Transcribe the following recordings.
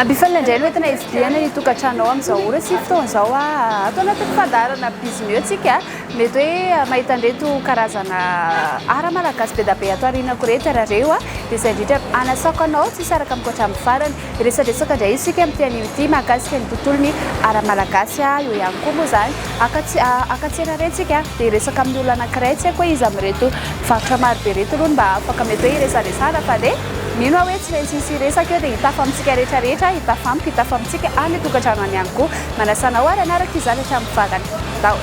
Ampifanina indray no entina hividiana ny tokantranonao amin'izao ora sy fotoana izao. Ato anatin'ny fandaharana Biz Mieux tsika, mety hoe mahita an'ireto karazana art malagasy be dia be ato aorianako ireto ianareo, dia izay indrindra hanasako anao tsy hisaraka amiko hatramin'ny farany. Resadresaka indray isika amin'ity anio ity mahakasika ny tontolon'ny ara-malagasy. Eo ihany koa moa izany, haka tsena re isika dia hiresaka amin'ny olona anankiray, tsy haiko hoe iza amin'ireto mpivarotra maro be ireto aloha no mba afaka mety hoe hiresaresahana fa dia mino aho hoe tsy maintsy hisy hiresaka eo dia hitafa amintsika rehetra rehetra, hitafa amiko, hitafa amintsika any an-tokantrano any ihany koa. Manasa anao ary hanaraka izany hatramin'ny farany. Andao!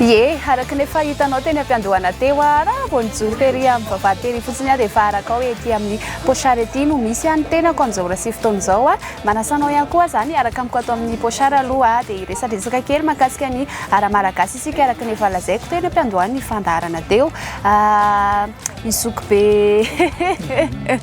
Ie, araka ny efa hitanao teny am-piandohana teo aho, raha vao nijoro tery amin'ny vavahady tery fotsiny aho dia efa araka ao ety amin'ny pochard ety no misy ahy ny tenako amin'izao ora sy fotoana izao. Manasa anao ihany koa izany araka amiko ato amin'ny pochard aloha dia hiresadresaka kely mahakasika ny ara-malagasy isika araka ny efa lazaiko teny am-piandohan'ny fandaharana teo. Ny zokibe.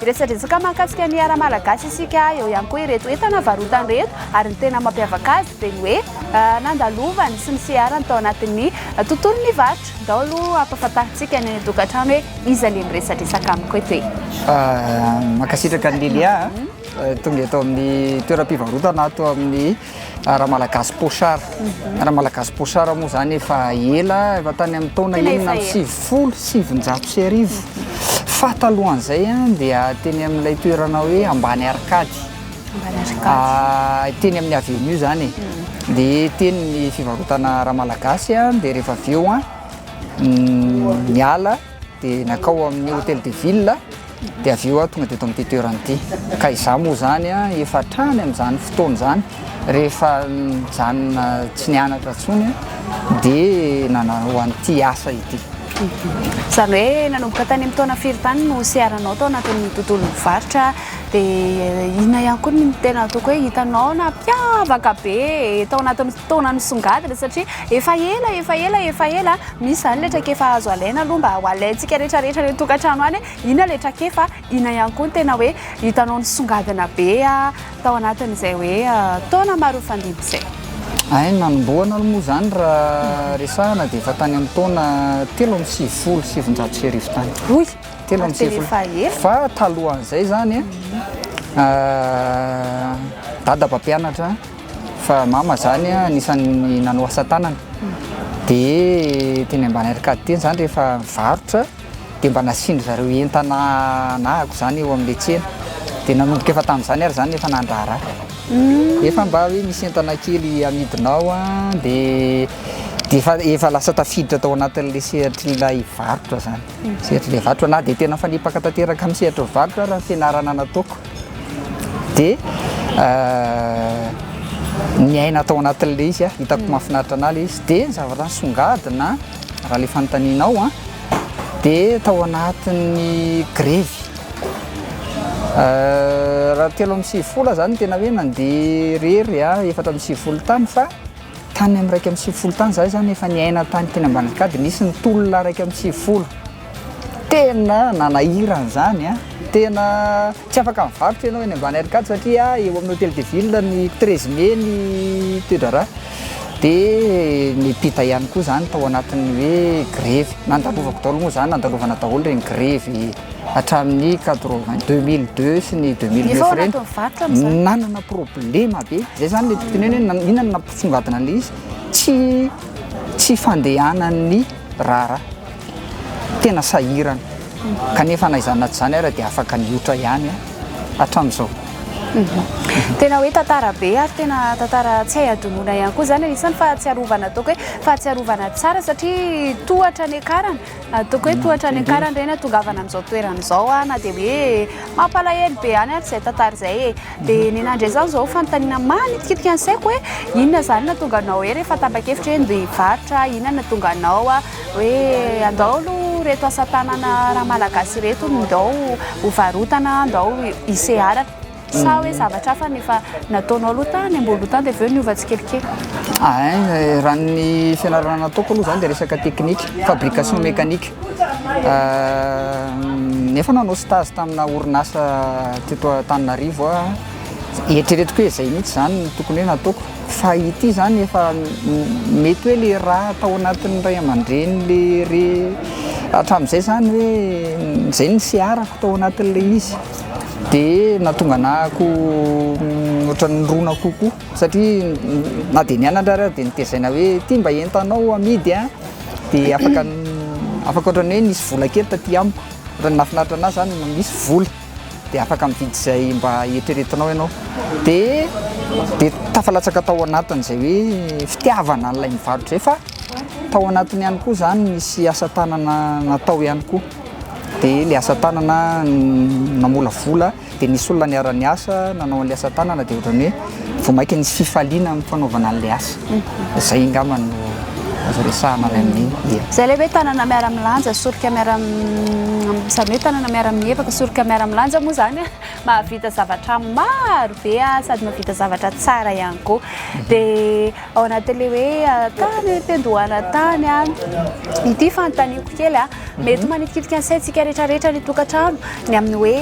Miresadresaka mahakasika ny ara-malagasy isika eo ihany koa ireto entana varotany ireto ary ny tena mampiavaka azy dia ny hoe nandalovany sy niseharany tao anatin'ny tontolon'ny varotra. Ndao aloha hampafantarintsika ny any an-tokantrano hoe iza le miresadresaka amiko eto e! Mankasitraka an'i Lelia a! Tonga eto amin'ny toeram-pivarotana ato amin'ny raha malagasy pochard raha malagasy pochard moa zany efa ela efa tany amin'ny taona enina amby sivifolo sy sivinjato sy arivo fa talohan'izay a dia teny amin'ilay toerana hoe ambany arcady ah, teny amin'ny avenue zany e. dia teny ny fivarotana raha malagasy a dia rehefa avy eo a mm, miala dia nankao amin'ny Hotel de Ville dia avy eo aho tonga teto amin'ity toerana ity ka izaho moa izany efa hatrany amin'izany fotoana izany rehefa nijanona tsy nianatra intsony dia nanao an'ity asa ity. Izany hoe nanomboka tany amin'ny taona firy tany no seharanao tao anatin'ny tontolon'ny varotra dia inona ihany koa ny tena ataoko hoe hitanao nampiavaka be tao anatin'ny fotoana nisongadina satria efa ela efa ela efa ela Misy izany ilay traikefa azo alaina aloha mba ho alaintsika rehetrarehetra any an-tokantrano any hoe inona ilay traikefa, inona ihany koa no tena hoe hitanao nisongadina be tao anatin'izay hoe taona maro nifandimby izay. Ay, ny nanombohana aloha moa izany raha resahana dia efa tany amin'ny taona telo amby sivifolo sy sivinjato sy arivo tany. Oy! Telo amby sivifolo. Ary tena efa ela. Fa talohan'izay izany, Dada mpampianatra Fa mama zany anisany nanao asa tanana de teny ambany arcade teny zany rehefa mivarotra de mba nasiany zareo entana anahako zany eo amle tsena de nanomboka efa tamzany ary zany efa nandraharaha nefa mba hoe misy entana kely amidinao an de defa efa lasa tafiditra tao anatinle sehatrilay varotra zany sehatrilay varotra na de tena mifanipaka tanteraka am sehatry ny varotra ary ny fianarana nataoko Dia niaina tao anatin'ilay izy aho, hitako mahafinaritra an'ahy ilay izy. Dia ny zavatra nisongadina raha ilay fanontanianao an, dia tao anatin'ny grevy. Raha telo amby sivifolo aho izany no tena hoe nandeha irery an, efatra amby sivifolo tany fa tany amin'ny iraika amby sivifolo tany izaho izany efa niaina tany teny Ambanajika dia nisy nitolona iraika amby sivifolo. Tena nanahirana izany an! Tena tsy afaka mivarotra ianao eny ambany Arcade satria eo amin'ny Hotel de Ville ny treize mai ny toe-draharaha dia niampita ihany koa izany tao anatin'ny hoe grevy. Nandalovako daholo moa izany, nandalovana daholo ireny grevy hatramin'ny quatre vingt, deux mille deux sy ny deux mille neuf ireny. Efa ao anatin'ny varotra amin'izany? Nanana problema be, izay izany ilay tiako tenenina hoe inona no nampisongadina an'ilay izy, tsy tsy fandehanan'ny raharaha. tena sahirana kanefa na izany na tsy izany ary dia afaka niotra ihany hatramin'izao. Mhm. Tena hoe tantara be ary tena tantara tsy hay adonona ihany koa zany anisan'ny fahatsiarovana ataoko hoe fahatsiarovana tsara satria tohatra ny akarana ataoko hoe mm, tohatra ny akarana ireny atongavana amin'izao toerana izao a na dia hoe mampalahelo be ihany ary izay tantara izay e Dia ny nandre izany izao fanontaniana manitikitika ny saiko hoe inona izany nahatonga anao hoe rehefa tapa-kevitra hoe handeha hivarotra, inona nahatonga anao hoe andao aloha ireto asa tanana ra malagasy ireto no ndao hovarotana, ndao hiseharana. Sa hoe zavatra hafa no efa nataonao aloha tany amboniloha tany dia avy eo niova tsikelikely? Raha ny fianarana nataoko aloha izany dia resaka teknika, fabrication mécanique. Efa nanao stage tamina orinasa teto Antananarivo aho, eritreretiko hoe izay mihitsy izany no tokony hoe nataoko fa ity izany efa mety hoe ilay rà tao anatin'ny ray aman-dreny le re hatramin'izay izany hoe izay no niseharako tao anatin'ilay izy dia nahatonga anah ko ohatran'ny nirona kokoa. satria na dia nianatra ary aho dia notezaina hoe ity mba entanao amidy a, dia afaka afaka ohatran'ny hoe nisy vola kely taty amiko, ohatran'ny nahafinaritra an'ahy zany no misy vola dia afaka mividy izay mba eritreretinao ianao, dia dia tafalatsaka tao anatin'izay hoe fitiavana an'ilay mivarotra izay fa tao anatiny ihany koa zany nisy asa tanana natao ihany koa, dia ilay asa tanana namolavola. Dia nisy olona niara-niasa nanao an'ilay asa tanana dia ohatran'ny hoe vao mainka nisy fifaliana amin'ny fanaovana an'ilay asa. Izay angamba no azo resahana avy amin'iny. Ia. Izay ilay hoe tanana miara-milanja, soroka miara, izany hoe tanana miara-mievaka, soroka miara-milanja moa izany an, mahavita zavatra maro be sady mahavita zavatra tsara ihany koa. Dia. ao anatin'ilay hoe tany am-piandohana tany an, ity fanontaniako kely an, mety manitikitika ny saintsika rehetrarehetra ny tokantrano ny amin'ny hoe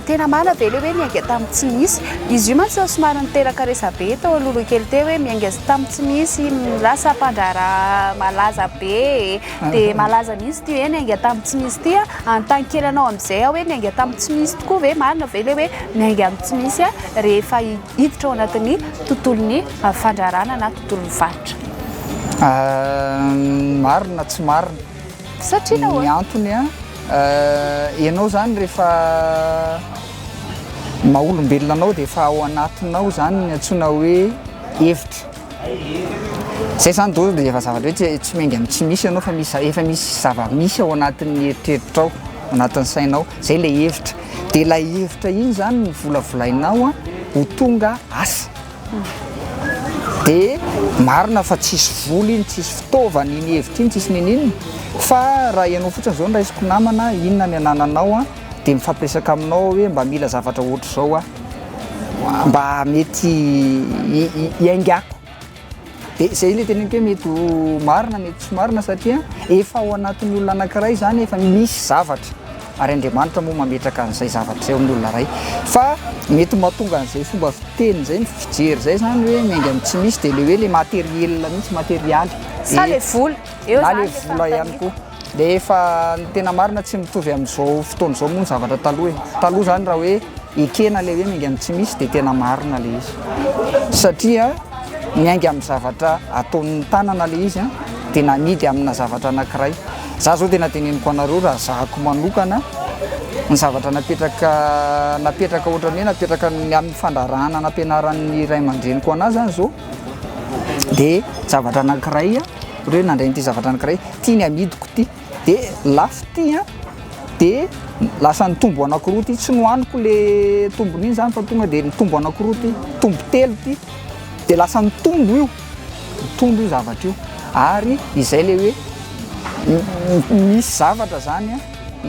tena marina ve ilay hoe niainga tamin'ny tsy misy? izy io mantsy somary niteraka resabe tao alohaloha kely teo hoe miainga tamin'ny tsy misy lasa mpandraharaha malaza be e, dia malaza mihitsy ity hoe niainga tamin'ny tsy misy ity an, hanontany kely anao amin'izay aho hoe niainga tamin'ny tsy misy tokoa ve? marina ve ilay hoe miainga amin'ny tsy misy an? rehefa hiditra ao anatin'ny tontolon'ny fandraharahana na tontolon'ny faritra? Marina tsy marina. Satria nahoana? Ny antony a, ianao zany rehefa maha olombelona anao dia efa ao anatinao zany ny antsoina hoe hevitra. Izay izany dôzy dia efa zavatra hoe tsy tsy miainga amin'ny tsy misy ianao fa misy efa misy zava-misy ao anatin'ny eritreritrao, ao anatin'ny sainao, izay ilay hevitra. Dia ilay hevitra iny izany no volavolainao ho tonga asa. Dia marina fa tsisy vola iny, tsisy fitaovana iny hevitra iny, tsisy n'inon'inona fa raha ianao fotsiny izao no raisiko namana, inona ny anananao? Dia mifampiresaka aminao aho hoe mba mila zavatra ohatr'izao aho mba mety hiaingako. Dia izay ilay teneniko hoe mety ho marina, mety tsy marina satria efa ao anatin'ny olona anankiray izany efa misy zavatra ary Andriamanitra moa mametraka an'izay zavatra izay ao amin'ny olona iray. Fa mety ho mahatonga an'izay fomba fiteny izay ny fijery izay izany hoe miainga amin'ny tsy misy dia ilay hoe ilay materiel mihitsy, materialy. Sa ilay vola, eo izany ilay fanontaniako. Dia efa ny tena marina tsy mitovy amin'izao fotoana izao moa ny zavatra taloha e! Taloha izany raha hoe ekena ilay hoe miainga amin'ny tsy misy dia tena marina ilay izy satria miainga amin'ny zavatra ataon'ny tanana ilay izy an! Dia namidy amina zavatra anankiray. Izaho izao tena teneniko anareo raha zahako manokana ny zavatra napetraka napetraka ohatran'ny hoe napetraka ny amin'ny fandraharahana nampianaran'ny ray aman-dreniko an'ahy izany izao dia zavatra anankiray ohatran'ny hoe nandray an'ity zavatra anankiray Ity ny amidiko ity de lafo ity an de lasa nitombo anakiroa ity tsy nohaniko le tombony iny zany fa tonga de nitombo anakiroa ity tombo telo ity de lasa nitombo io nitombo io zavatra io ary izay le hoe misy zavatra zany an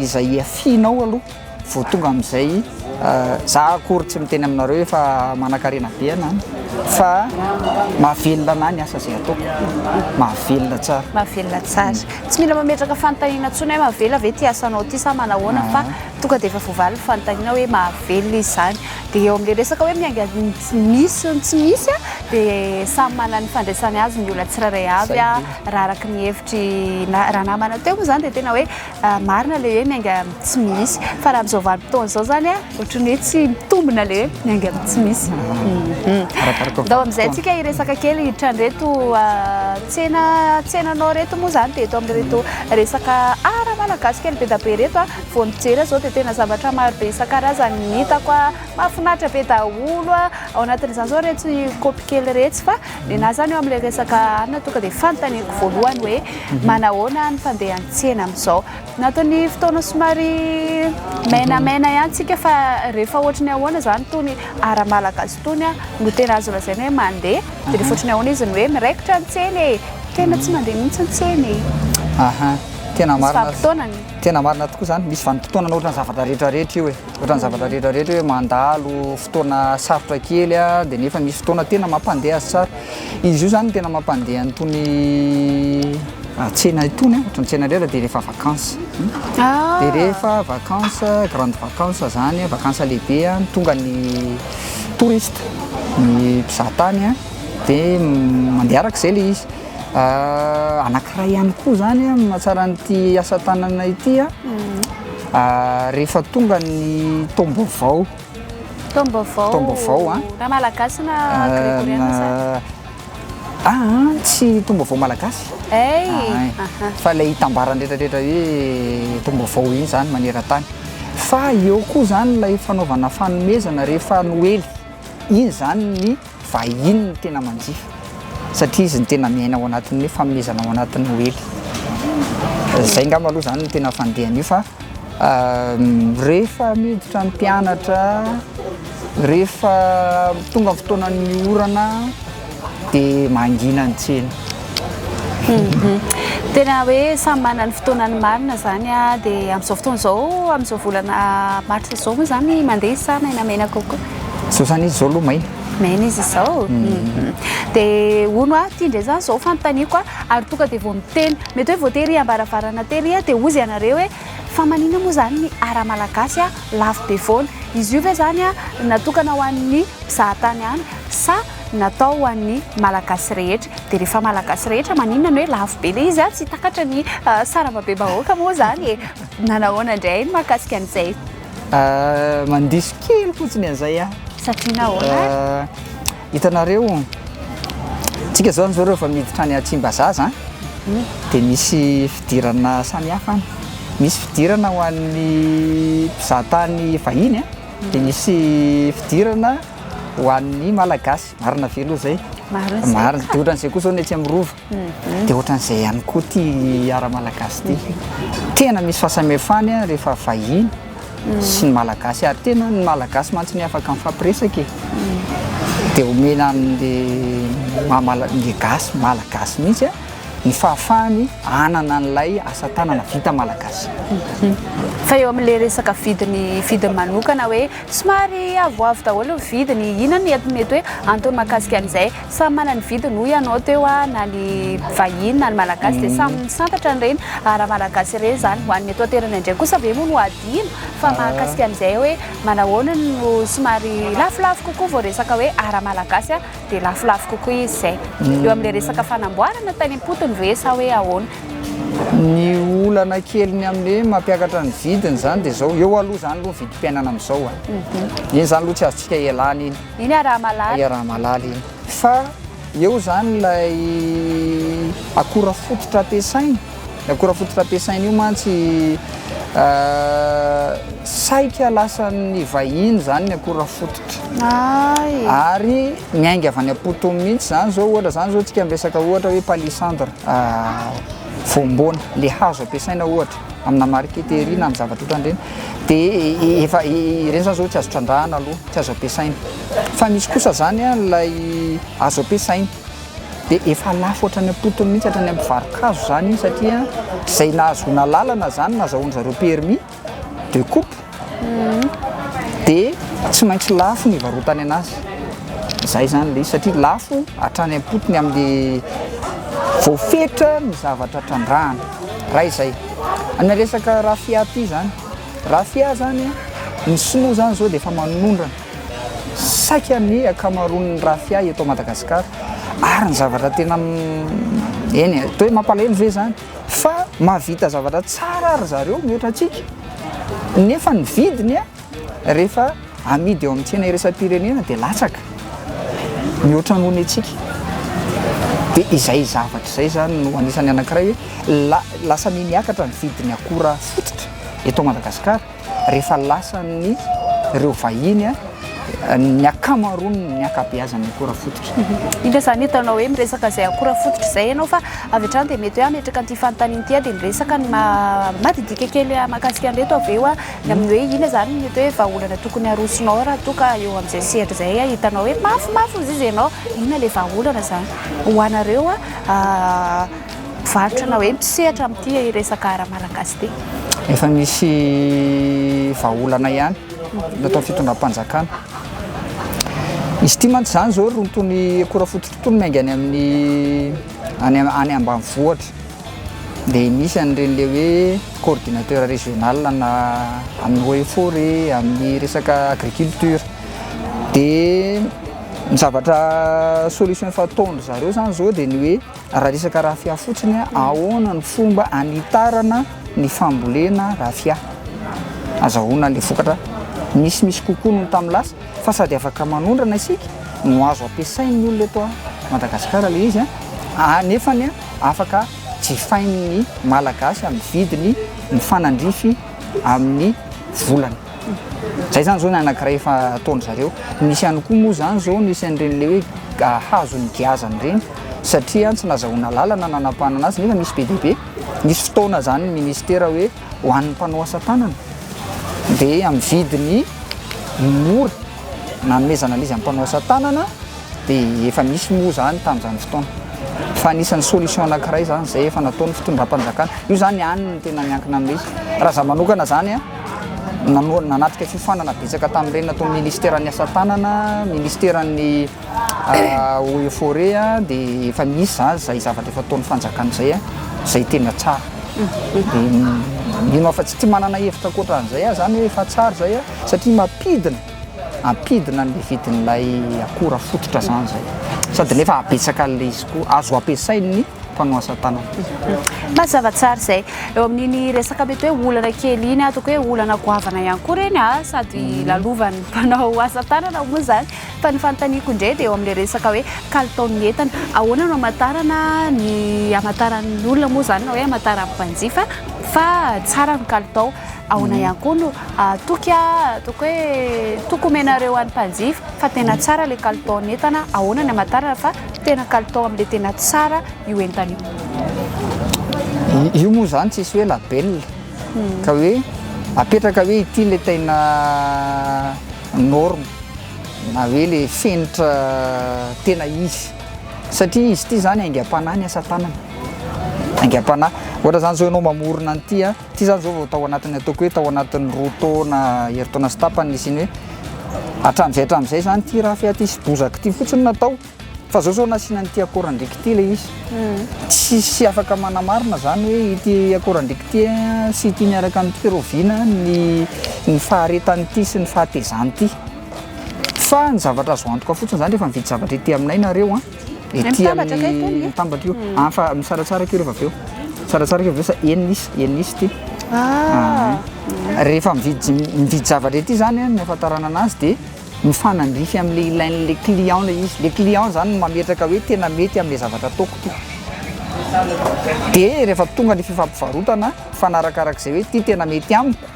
izay iafianao aloha Vao tonga amin'izay za akory tsy miteny aminareo efa manakarena be ana fa mahavelona ana ny asa zay ataoko mahavelona tsara mahavelona tsara tsy mila mametraka fanontaniana tsony hoe mahavelona ve ty asanao ty sa manahoana fa tonga dia efa voavaly ny fanontaniana hoe mahavelona izy zany dia eo amin'le resaka hoe miainga misy ny tsy misy a dia samy manana ny fandraisany azy ny olona tsirairay avy a raha araka ny hevitry na raha namana teo moa zany dia tena hoe Marina ilay hoe miainga amin'ny tsy misy. Fa raha amin'izao vanim-potoana izao izany a, ohatran'ny hoe tsy mitombina ilay hoe miainga amin'ny tsy misy. Arakaraka ny Ndao amin'izay fotoana. antsika hiresaka kely hiditra an'ireto ah, tsena tsenanao ireto moa izany dia eto amin'ireto resaka ara-malagasy kely be dia be ireto a. Vao nijery aho izao dia tena zavatra maro be isan-karazany no hitako a, mahafinaritra be daholo a. Ao anatin'izany izao iretsy kaopy kely iretsy fa. Nenahy zany eo amin'ilay resaka arina tonga dia fanontaniako voalohany hoe manahoana ny fandehan'ny tsena amin'izao. Anatin'ny fotoana somary mainamaina ihany tsika fa rehefa ohatry ny ahoana izany itony ara-malagasy itony no tena azo lazaina hoe mandeha dia rehefa ohatry ny ahoana izy ny hoe miraikitra ny tsena e! tena tsy mandeha mihitsy ny tsena e! Ahaa, tena marina, tena marina tokoa izany, misy vanim-potoana anaovana zavatra rehetra rehetra io e! Ohatran'ny zavatra rehetra rehetra hoe mandalo fotoana sarotra kely dia nefa misy fotoana tena mampandeha azy tsara. Izy io izany no tena mampandeha an'itony tsena itony, ohatran'ny tsena indray dia rehefa vacances. Dia rehefa vacances, grandes vacances izany, vacances lehibe, tonga ny touristes, ny mpizahatany dia mandeha araka izay ilay izy. Anankiray ihany koa izany mahatsara an'ity asa tanana ity an. Rehefa tonga ny taom-baovao. Taom-baovao. Taom-baovao a. Raha malagasy na gregoriana sa? Aa tsy taom-baovao malagasy. Hey. Fa ilay itambarany rehetrarehetra hoe taom-baovao iny zany maneran-tany. Fa eo koa zany ilay fanaovana fanomezana rehefa noely. Iny zany ny. Vahiny no tena manjifa satria izy no tena miaina ao anatin'ny hoe fanomezana ao anatin'ny noely. Izay angamba aloha izany no tena fandehany io fa rehefa miditra ny mpianatra, rehefa tonga ny fotoanan'ny orana dia mangina ny tsena. Mhm. Tena hoe samy manana ny fotoanany marina izany dia amin'izao fotoana izao, amin'izao volana marsa izao moa izany mandeha sa maina maina kokoa? Zao zany izy zao aloha maina. Maina izy izao. Mhm. Dia hono aho ity indray zany izao fanontaniako a, ary tonga dia vao miteny. Mety hoe vao tery am-baravarana tery aho dia hozy ianareo hoe fa manina moa izany ny art malagasy a, lafo be foana. Izy io ve izany a natokana ho an'ny mpizahatany ihany sa natao ho an'ny malagasy rehetra? Dia rehefa malagasy rehetra maninona no hoe lafo be ilay izy a? Tsy takatra ny sarambabem-bahoaka moa izany e. Manahoana indray ny mahakasika an'izay? Euh, mandiso kely fotsiny an'izay a. Satria nahoana ary? Euh, hitanareo, tsika zao zao rehefa miditra any Tsimbazaza, dia misy fidirana samihafa any. Misy fidirana ho an'ny mpizahatany vahiny a, dia misy fidirana ho an'ny Malagasy. Marina ve aloha izay? Marina izay. Marina. Dia ohatran'izay koa izao ny etsy amin'ny Rova. Dia ohatran'izay ihany koa ity art malagasy ity. Tena misy fahasamihafany rehefa vahiny sy ny malagasy ary tena ny malagasy mantsy no afaka mifampiresaka e. Dia omena an'le maha malagasy, ny gasy, malagasy mihitsy ny fahafahany hanana an'ilay asa tanana vita malagasy. Fa eo amin'ilay resaka vidiny vidiny manokana hoe somary avoavo daholo ny vidiny, inona no mety hoe antony mahakasika an'izay? Samy manana ny vidiny hoy ianao teo a, na ny vahiny na ny malagasy dia samy misantatra an'ireny ara-malagasy ireny izany. Ho an'ny eto an-toerana indray kosa ve moa no hadino fa mahakasika an'izay hoe manahoana no somary lafolafo kokoa vao resaka hoe ara-malagasy a, dia lafolafo kokoa izy izay. Eo amin'ilay resaka fanamboarana tany am-potony ve sa hoe ahoana? Ny olana keliny amin'ny hoe mampiakatra ny vidiny izany dia izao, eo aloha izany aloha ny vidim-piainana amin'izao a, eny izany aloha tsy azontsika ialana iny. Eny ah raha malala. Eny ah raha malala eny. Fa eo zany ilay akora fototra ampiasainy. Ny akora fototra ampiasainy io mantsy saika lasan'ny vahiny zany ny akora fototra. Ay. Ary miainga avy any am-potony mihitsy zany zao ohatra zany zao tsika miresaka ohatra hoe palissandre voamboana le hazo ampiasaina ohatra. amina marqueterie na amin'ny zavatra ohatran'ireny dia efa ireny zany zao tsy azo trandrahana aloha tsy azo ampiasaina fa misy kosa zany a lay azo ampiasaina dia efa lafo hatrany am-potony mihitsy hatrany amin'ny mpivaro-kazo zany satria zay nahazoana lalana zany nazahoan'zareo permis de coupe dia tsy maintsy lafo ny varotany anazy zay zany le izy satria lafo hatrany am-potony amin'ny voafetra ny zavatra trandrahana ray zay amina resaka rafia ty zany rafia zany ny sinoa zany zao dia efa manondrana saika ny akamaroan'ny rafia eto madagasikara ary ny zavatra tena eny e, toa hoe mampalahelo ve zany fa mahavita zavatra tsara ry zareo mihoatra antsika nefa ny vidiny a rehefa amidy eo amin'ny tsena iraisam-pirenena dia latsaka mihoatra noho ny antsika dia izay zavatra izay zany no anisan'ny anankiray hoe la- lasa mihamiakatra ny vidin'ny akora fototra eto Madagasikara rehefa lasan'ny ireo vahiny a, ny akamaroany ny akabeazan'ny akora fototra. Indro izany hitanao hoe miresaka izay akora fototra izay ianao fa avy hatrany dia mety hoe hametraka an'ity fanontaniana ity aho dia miresaka ny maha madidika kely mahakasika an'ireto avy eo a, ny amin'ny hoe inona izany mety hoe vahaolana tokony harosonao raha toa ka eo amin'izay sehatra izay a hitanao hoe mafimafy hozizy ianao, inona ilay vahaolana izany ho anareo a. mpivarotra na hoe mpisehatra amin'ity resaka ara-malagasy ity? Efa misy vahaolana ihany nataon'ny fitondram-panjakana. Izy ity mantsy izany izao rontony akora fototra itony miainga any amin'ny any any ambanivohitra. Dia misy an'ireny le hoe coordinateur régional na amin'ny eaux et forêts, amin'ny resaka agriculture. Dia ny zavatra solution efa ataon-dry zareo izany izao dia ny hoe Raha resaka raffia fotsiny, ahoana ny fomba hanitarana ny fambolena raffia? Azahoana ilay vokatra misimisy kokoa noho ny tamin'ny lasa fa sady afaka manondrana isika no azo ampiasain'ny olona eto Madagasikara ilay izy nefa afaka jifain'ny Malagasy amin'ny vidiny mifanandrify amin'ny volany. Zay zany zao ny anakiray efa ataon-dry zareo. Nisy ihany koa moa zany zao nisy an'ireny le hoe hazo nigiazana ireny satria tsy nazahoana lalana nanapahana azy nefa misy be dia be. Nisy fotoana zany ny ministera hoe ho an'ny mpanao asa tanana dia amin'ny vidiny mora nanomezana an'izy mpanao asa tanana dia efa nisy moa zany tamin'izany fotoana. Fa anisan'ny solution anakiray zany zay efa nataon'ny fitondram-panjakana. Io zany any no tena miankina amin'ilay izy raha za manokana zany an. Nanatrika fiofanana betsaka tamin'ireny natao ny Ministeran'ny asa tanana, Ministeran'ny eaux et forêts dia efa misy izany izay zavatra efa ataon'ny fanjakana izay, izay tena tsara. Dia mino aho fa tsy manana hevitra ankoatran'izay aho izany hoe efa tsara izay satria mampidina, ampidina ny vidin'ilay akora fototra izany izay. Sady nefa ahabetsaka an'ilay izy koa, azo ampiasain'ny. mpanao asa tanana. Mazava tsara izay. Eo amin'iny resaka mety hoe olana kely iny, ataoko hoe olana goavana ihany koa ireny a, sady mhm. lalovan'ny mpanao asa tanana moa izany. Fa ny fanontaniako indray dia eo amin'ilay resaka hoe kalitaon'ny entana. Ahoana no amatarana ny amataran'ny olona moa izany na hoe amataran'ny mpanjifa fa tsara ny kalitao. Ahoana mhm. ihany koa no ah, toky a, ah, ataoko hoe toko omenareo an'ny mpanjifa fa tena mhm. tsara ilay kalitaon'ny entana. Ahoana ny amatarana fa Tena kalitao amle tena tsara io entana io. Io moa zany tsisy hoe label ka hoe apetraka hoe ity le tena norme na hoe le fenitra tena izy satria izy ity zany aingam-panahy ny asa tanana, aingam-panahy ohatra zany zao enao mamorona an'ity a. Tsy izany izao vao tao anatin'ny ataoko hoe tao anatin'ny roa taona, herintaona sy tapany nisian'ny hoe hatramin'izay hatramin'izay izany ity rafia ity sy bozaka ity fotsiny no natao fa izao izao nasiana an'ity akorandriaka ity ilay izy. Tsisy afaka manamarina izany hoe ity akorandriaka ity sy ity miaraka amin'ity fa rahoviana ny ny faharetan'ity sy ny fahatezan'ity. Fa ny zavatra azo antoka fotsiny izany rehefa mividy zavatra ety aminay nareo an! Ety amin'ny mitambatra io. Ah, fa misaratsaraka io rehefa avy eo. Tsaratsara io avy eo sa enina isa, enina isa ity. Ah. Rehefa mividy mividy zavatra ety zany a, ny ahafantarana anazy dia mifanandrify am'le ilain'le client le izy, le client zany no mametraka hoe tena mety am'le zavatra ataoko ty. De rehefa tonga ny fifampivarotana, mifanarakarak'zay hoe ty tena mety amiko.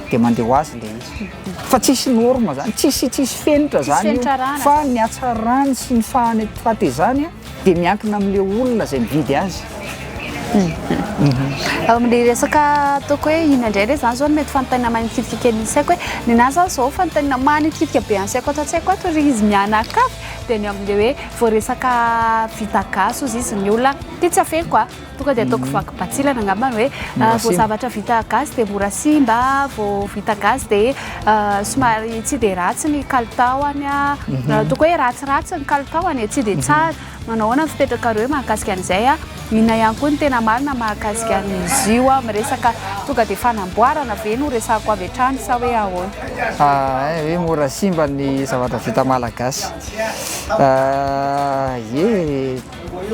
dia mandeha ho azy ilay izy. Fa tsisy norme zany, tsisy tsisy fenitra zany io. Fa ny hatsarany sy ny fahane fahatezany dia miankina amin'ilay olona izay mividy azy. Ao amin'ny resaka ataoko hoe inona indray re zany zao no mety fanontaniana manikitika ny saiko hoe ny nahy zany zao fanontaniana manikitika be ansaiko ato an-tsaiko ato ry izy mianakavy dia ny amin'ilay hoe vao resaka vita gasy hozy izy ny olona dia tsy averiko a. Tonga dia ataoko vaky batsilana angamba ny hoe vao zavatra vita gasy dia mora simba, vao vita gasy dia euh, somary tsy dia ratsy ny kalitaoany. Mhm. Euh, toko hoe ratsiratsy ny kalitaoany, tsy dia mhm. tsara. Manao ahoana ny fipetrakareo mahakasika an'izay a? Inona ihany koa ny tena marina mahakasika an'izy io a? Miresaka tonga dia fanamboarana ve no resako avy hatrany sa hoe ahoana? Ah, eh, hoe mora simba ny zavatra vita malagasy. Ah, ye,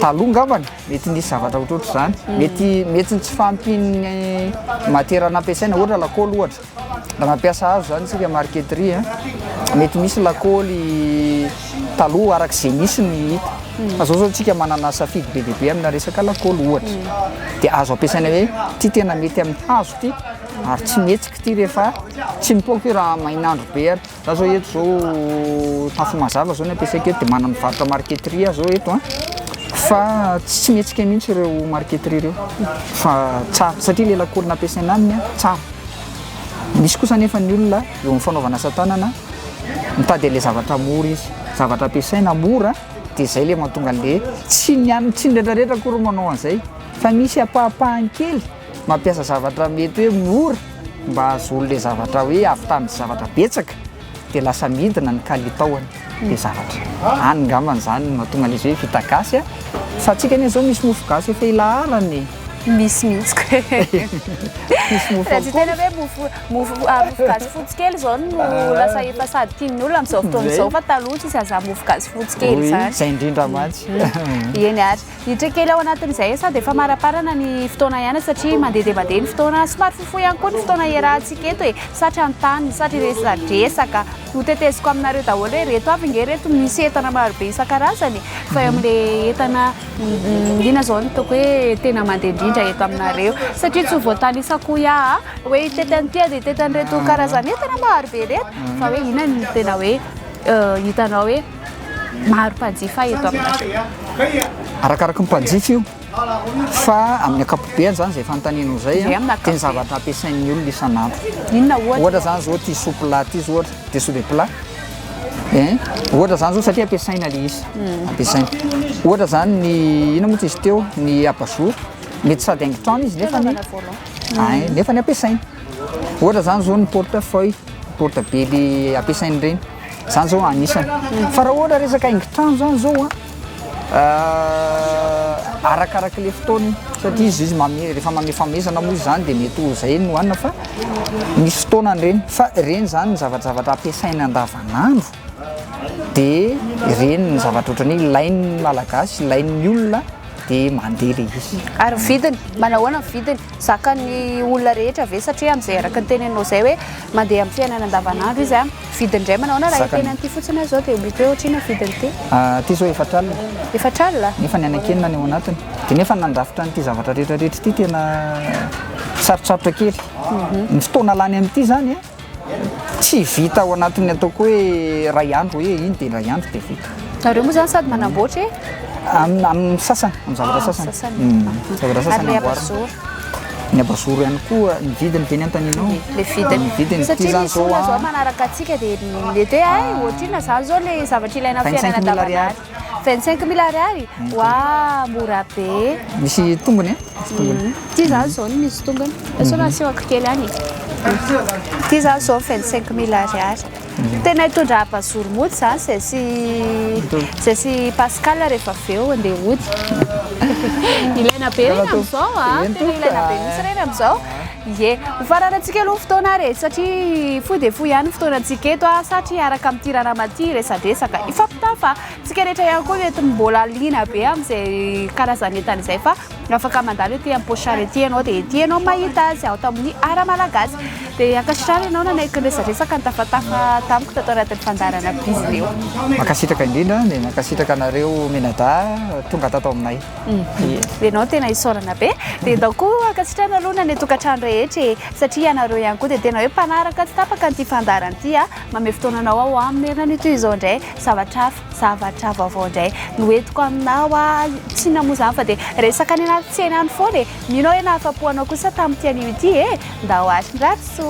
taloha ngambany. Mety nisy zavatra ohatrohatr'izany. Mety mety ny tsy fahampian'ny matière nampiasaina, ohatra lakaoly ohatra. Raha mampiasa hazo izany isika marqueterie a, mety misy lakaoly taloha araka izay nisy no hita. Fa izao izao isika manana safidy be dia be amina resaka lakaoly ohatra. Dia azo ampiasaina hoe ity tena mety amin'ny hazo ity ary tsy mihetsika ity rehefa tsy mipoaka io raha main'andro be ary. Za zao eto zao tafo mazava zao ny ampiasaiko eto de manana mivarotra marqueterie aho zao eto a fa tsy mihetsika mihitsy ireo marqueterie ireo fa tsara satria le lakôly nampiasaina aminy a tsara misy kosa nefa ny olona eo amin'ny fanaovana asa tanana mitady an'le zavatra mora izy zavatra ampiasaina mora de zay le mahatonga an'le tsy ny an- tsy ny retraretra akory manao an'zay fa misy ampahampahany kely Mampiasa zavatra mety hoe mora mba hahazoany ilay zavatra hoe hahavitany zavatra betsaka dia lasa midina ny kalitaony ilay zavatra. Any ngambany izany no mahatonga an'izy hoe vita gasy a! Fa antsika anie izao misy mofo gasy efa ilaharana e! Misy mihitsy koa e! Misy mofo Raha tsy tena hoe mofo mofo mofo gasy fotsy kely izao no lasa efa sady tian'ny olona amin'izao fotoana izao fa taloha tsy sahaza mofo gasy fotsy kely izany. Izay indrindra mantsy. Eny ary. Hiditra kely ao anatin'izay sady efa maraparana ny fotoana ihany satria mandeha dia mandeha ny fotoana. Somary fohifohy ihany koa ny fotoana hiarahantsika eto e. Satry hanontany, satry hiresadresaka. Hoteteziko aminareo daholo hoe ireto avy ange ireto misy entana marobe isan-karazany e. Fa eo amin'ilay entana inona izao no hitako hoe tena mandeha indrindra eto aminareo satria tsy ho voatanisa koa ia a! hoe hitety an'ity dia hitety an'ireto karazan'entana marobe ireto fa hoe inona no tena hoe hitanao hoe. maro mpanjifa eto aminareo? Arakaraky ny mpanjifa io fa amin'ny ankapobeany zany zay fanontanianao zay dia ny zavatra ampiasain'ny olona isan'andro ohatra zany zao ity soupe là ity zao ohatra dia soupe plat ein ohatra zany zao satria ampiasaina le izy hmm. ampiasaina ohatra zany ny ina moa tsy izy teo ny abajour mety sady haingon-trano izy nefa ny hmm. nefa ny ampiasaina ohatra zany zao ny porte feuille porte bely ampiasaina ireny Zany zao anisany. Fa raha ohatra resaka haingon-trano zany zao an, arakaraky le fotoana iny satria izy izy mame- rehefa mamefamezana moa izy zany de mety ho zay no hanina fa misy fotoanany reny fa reny zany ny zavajavatra ampiasaina andavanandro de reny ny zavatra ohatran'ny hoe ilain'ny malagasy, ilain'ny olona de mandeha le izy. Ary ny vidiny? Manao ahoana ny vidiny? Zakan'ny olona rehetra ve satria am'zay araka ny teneninao zay hoe Mandeha amin'ny fiainana andavanandro izy an. Vidiny indray manao na raha teny an'ity fotsiny aza zao dia mety hoe ohatr'inona ny vidiny ity? Ity zao efatra alina. Efatra alina? Nefa ny anankenina any ao anatiny. Dia nefa nandrafitra an'ity zavatra rehetra rehetra ity tena sarotsarotra kely. Ny fotoana lany amin'ity zany tsy vita ao anatin'ny ataoko hoe iray andro hoe iny dia iray andro dia vita. Nareo moa zany sady manamboatra e? Amin'ny sasany, amin'ny zavatra sasany. Amin'ny sasany. Amin'ny zavatra sasany amboarina. Ny abazoro ihany koa ny vidiny teny antanina ao. Le vidiny. Ny vidiny ity Satria zany misy zao olona zao a. manaraka antsika dia mety hoe ay ohatrina zany zao le zavatra ilaina amin'ny 25 fiainana 000 ariary. andavanandro. 25 mille ariary? Wa mora be. Misy tongony a? Misy tongony. Ity zany zao no misy tongony. Sao nasehoko kely any e. Ity zany zao 25 mille ariary. Tena hitondra abazoro mody zany zay sy zay sy Pascal rehefa avy eo andeha hody. Ilaina be reny amizao a, tena ilaina be mintsy reny amizao. Ie. Ho fararantsika aloha ny fotoana ary e, satria fohy dia fohy ihany ny fotoanantsika eto a, satry hiaraka amin'ity ranamana ity hiresadresaka, hifampitaha fa tsika rehetra ihany koa mety mbola liana be amin'izay karazan'entana izay fa. Raha afaka mandalo ety am-pochard ety ianao dia ety ianao mahita azy ato amin'ny Art Malagasy. Dia ankasitrano ianao nanaiky niresadresaka nitafatafa tamiko tato anatin'ny fandaharana Bizileo. Mankasitraka indrindra dia mankasitraka anareo mianadahy tonga tato aminay. Ianao tena hisaorana be. Dia ndao koa ankasitrano aloha ny any an-tokantrano rehetra e! Satria ianareo ihany koa dia tena hoe mpanaraka tsy tapaka an'ity fandaharana ity a! Mamehy fotoananao aho amin'ny herinandro toy izao indray zavatra hafa. Zavatra vaovao indray no entiko aminao aho, tsy inona moa izany fa dia resaka any anaty tsena any foana e! Mino aho hoe nahafapo anao kosa tamin'ity anio ity e! Ndao àry Radoso!